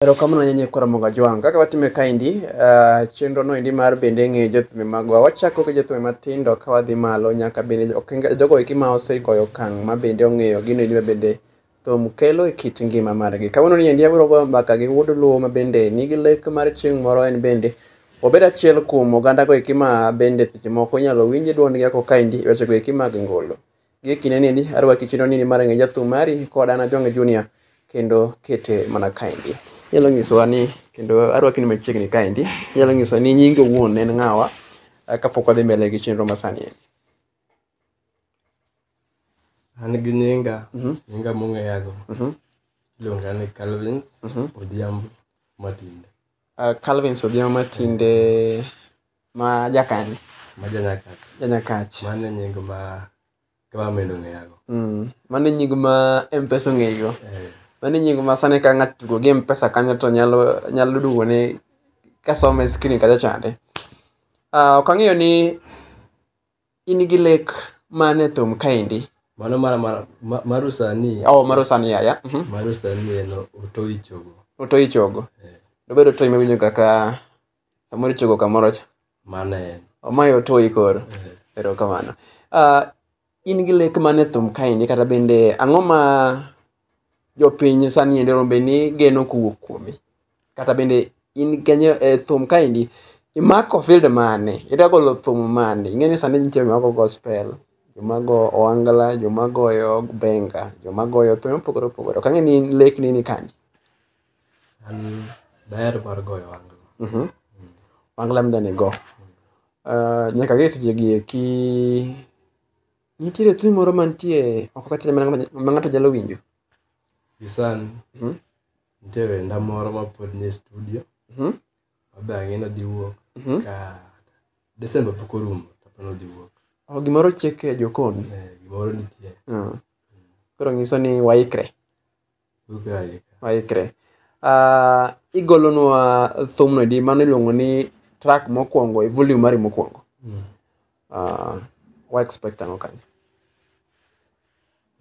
Erokamano nyenye kwa Ramoga Jwang. Kaka watime kaendi, uh, chenro no endi mar bende ng'eyo jothumbe magwa. Wachako gi jothumbe matindo ka wadhi malo nyaka bende okenge- jogo eki ma osegoyo okang' ma bende ong'eyo gino endi ma bende thum kelo e kit ngima margi. Kawuono ni endi abiro goyo mbaka gi wuod Luo ma bende nigi lek mar chieng' moro en bende obed achiel kuom oganda go eki ma bende seche moko inyalo winj dwondgi ako kaendi e weche go eki mag ngolo. Gie kinde niendi, arwaki chino nini mar ng'e jathum mari kod an Ajonge Junior kendo kete mana kaendi. Inyalo nyisowa ni kendo arwaki ni machiegni kaendi. Inyalo nyisowa ni nyingi owuon en ng'awa ah, kapok wadhi mbele gi chenro masani endi. An gi nyinga, Mhm. nyinga mong'eyago Mhm. iluonga ni Calvins Mhm. Odhiambo Matinde. Ah, Calvin Sodiama tinde ma jakanye ma janyakach janyakach mano e nying ma government ong'eyago mm. mano e nying ma mpesa ong'eyigo Eh, mano e nying ma sani ka ng'ato tugo gi mpesa kanyo to nyalo nyalo duogo ne kasome skrin kacha chande Ah, ok ang'eyo ni in gi lek man e thum kaendi mano mara mara ma- maru sani oh, maro sani yaya Mhm. maru sani en otoichogo otoyi chogo Eh. dobedo otoyi mawinjo kaka samoro ichogo kamoro cha mano en omayo otoyi koro erokamano uh, in gi lek mane thum kaendi kata bende ang'o ma jopiny sani endi rombe ni geno kowuok kuomi kata bende in kenyo e thum kaendi imako field mane ida golo thum mane ing'e ni sani nitie joma go gospel joma go oangla joma goyo benga joma goyo thum mopogore opogore ok ang'e ni in lek ni ni kanye An daher mar goyo wangla. Mhm. Wangla mda ni go. Uh, nyaka gi seche gi eki nitiere thum moro mantie oko kacha ma ng'ato- ma ng'ato nyalo winjo. Gi sani Mhm. nitie wenda moro ma pod ni e studio Mhm. ma be ang'e ni odhi wuok Mhm. ka Desemba pok orumo to pod odhi wuok. Oh, gimoro chiek e jokon. Eh, Gimoro nitie. Mm. Koro nyiso ni waikre. waikre uh, igolonwa thumno edi mano iluongo ni track mokwongo e volume mari mokwongo mm. uh, wa expect ang'o kanyo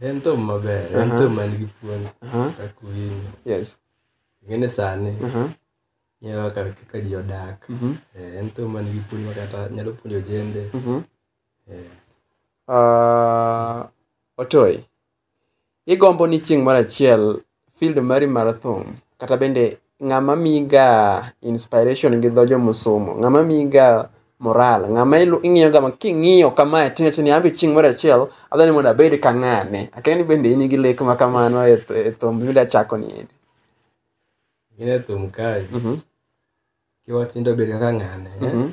en thum maber en uh-huh. thum man gi puonj uh-huh. kaka winyo yes ng'ene sani uh-huh. ng'eyo kaka kaka ji odak mm-hmm. eh, en thum man gi puonj makata nyalo puonjo jende mm-hmm. eh. ah, otoy Igombo ni chieng' moro achiel field mari mar thum kata bende ng'ama miyiga inspiration gi dho jomusumo, ng'ama miyiga moral, ng'ama ilu- ing'iyoga ma king'iyo kamae ting'acho ni anbe chieng' moro achiel adwani mondo abed ka ng'ane. Akia ni bende in gi lek ma kamano e th- e thum midwa chako ni endi. Gine thum kae. Mhm, Kiwach ni idwa bedo kaka ng'ane. eh? mhm,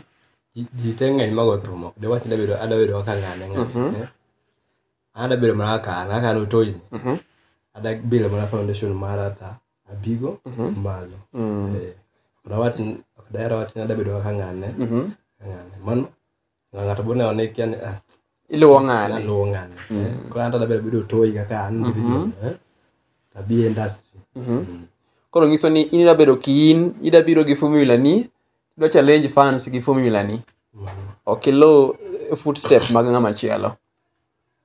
Ji- Ji te ng'eny mago thum ok diwach ni adwa bedo adwa bedo kaka ng'ane ng'ane. Mhm. eh? Anda bile mana kaka an, kaka an otoyni. Mhm. Ada bile mana foundation mara ta abigo Mhm. malo. Mm. Eh, ok dawach ni- ok daher wach ni ada bedo kaka ng'ane, Mhm. kaka ng'ane. Mano, ng'ato bende one kia ni, ah, iluwo ng'ani naluwo ng'ane. Mm. Eh, Koro an to ada bile bedo otoyi kaka an Mhm. individual, eh, to abi e industry. Mhm. Mm. koro nyiso ni in ida bedo kiin ida biro gi formula ni idwa challenge fans gi formula ni Mano. ok iluw footstep mag ng'ama chielo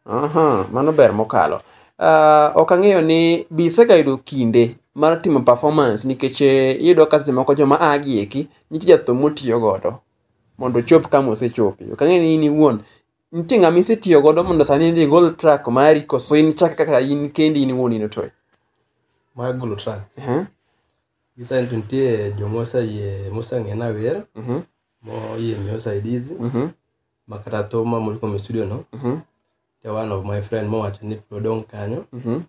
Aha, mano ber mokalo. Uh, ok ang'eyo ni be isegayudo kinde mar timo performance nikech eh, iyudo ka seche moko joma a gi eki nitie jathum motiyo godo mondo ochop kama osechope. Ok ang'eyo ni in iwuon nitie ng'ama isetiyo godo mondo sani idhi igol track mari koso in chak kaka in kendi in iwuon in otoyo. mar golo track Uh-huh. gisani to nitie jomoseyie moseng'ena wer Uh-huh. moyie miyo saidizi Uh-huh. ma kata thuma mori kuom e studio no Mhm. ja one of my friend mowacho ni pod odong' kanyo Mhm.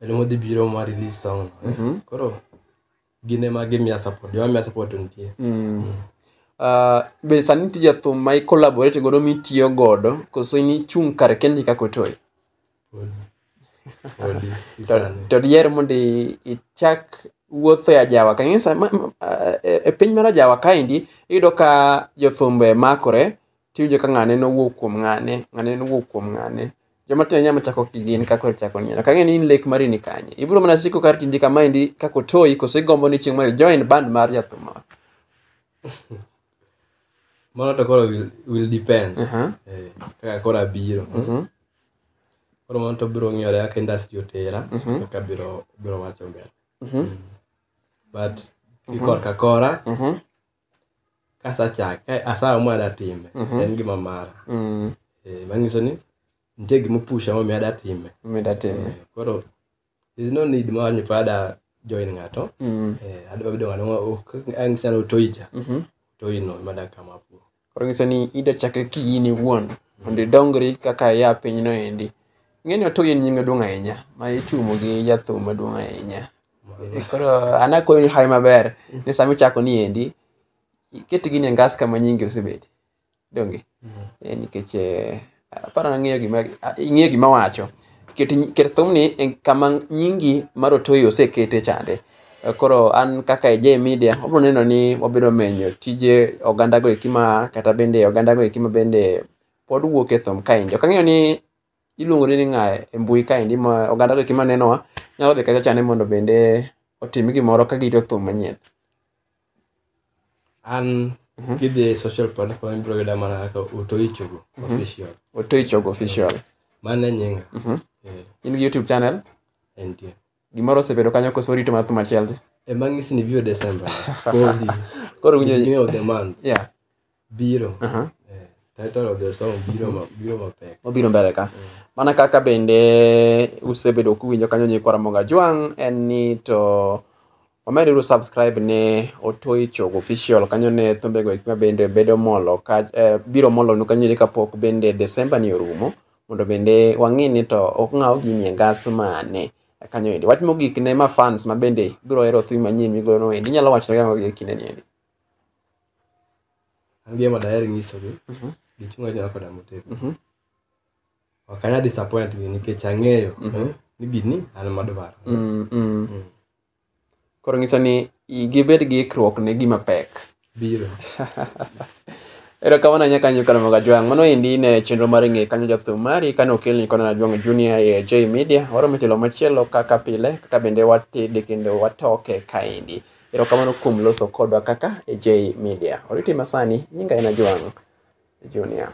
en modhi biro ma release song no Mhm. koro gin ema gimiya support joma miya support to nitie Mm. Ah, be sani nitie jathum ma i collaborate godo mitiyo godo koso in ichung' kar kendi kaka otoyo Odi. to, to diher mondo i- ichak wuotho e ajawa kanisa ma- ma- e e piny mar ajawa kaendi iyudo ka jothumbo e makore tiwinjo ka ng'ane nowuok kuom ng'ane ng'ane nowuok kuom ng'ane joma tindo nyama chako ki gin kaka ochako nyiero kang'e ni in lek mari ni kanye ibiro mana siko kar tindi kamaendi kaka otoyi koso igombo ni chieng' moro join band mar jathum moro mano to koro will, will depend Aha. Eh, kaka koro abiro Mhm. koro mano to biro ng'iyore kaka industry otera Mhm. kaka biro biro wacho mbele Mhm. Mm. but gi Mhm. korka kora Mhm. kasachak asawa mwada time Mhm. en gima mara Mm. Eh, manyiso ni nitie gima opusha momiyo adatime Mida time. Eh, koro there's no need ma ni pada join ngato Mm. eh adwa bedo ngano ma ok ang sana utoija Mhm. toino mada kama po koro nyiso ni ida chake ki in iwuon mondo idongri kaka ya pinyno endi ing'eni oto in nyinge duong' ahinya ma itumo gi jathum maduong' ahinya E, koro an akwayo ni hawi maber ni sama ichako ni endi iket gini e ngas kama nyingi osebedi donge Eh, nikech eh, aparo nang'eyo gima ah, ing'eyo gima wacho ket nyi- ket thumni e kama nyingi mar otoyi osekete chande Eh, koro an kaka e J media wabiro neno ni wabiro menyo tije oganda go eki ma kata bende oganda go eki ma bende pod wuok e thum kaendi ok ang'eyo ni iluongori ni ng'a e mbui kaendi ma oganda go eki ma nenowa nyalo dhi kacha chande mondo bende otim gimoro ka girito thum manyien an kidhi e social platform ibiro yuda mana kaka otoichogo official otoichogo official mane nyinga Eh, in gi youtube channel entie gimoro osebedo kanyo koso rito mathu machiel ema ng'isi ni biro december kodhi koro winjo beginning of the month yeah biro Aha. Eh, title of the song biro ma- biro mapek obiro mbele ka mana kaka bende usebedo kuwinjo kanyo nyikwa ramoga jwang en ni to wameduru subscribe ne otoi chogo official kanyo ne thumbego ekima bende bedo molo ka, eh, biro molonu kanyo ni kapok bende desemba ni orumo mondo bende wang'i ni to ok ng'aw gini e ngas mane kanyo endi wach mogik ne ma fans ma bende biro hero thim manyien migono endi inyalo wachonega mago e kindeni endi an gima daher nyisogi Mhm. gichung' achiel koda motegno Mhm. ok anya disappoint gi nikech ang'eyo Mhm. eh, ni gini an madwaro Mm, mm. Mm. koro nyiso ni i- gibed gi ikruok ne gima pek biro ero kamano anya kanyo kano maga jwang mano endi ne chenro mar ng'e kanyo jathum mari kane okelni kona na jwang junior e j media waromo telo machielo kaka pile kaka bende watede kendo watoke kaendi Erokamano kuom loso kodwa kaka e J Media. Oriti masani, nyinga en Ajwang' Junior.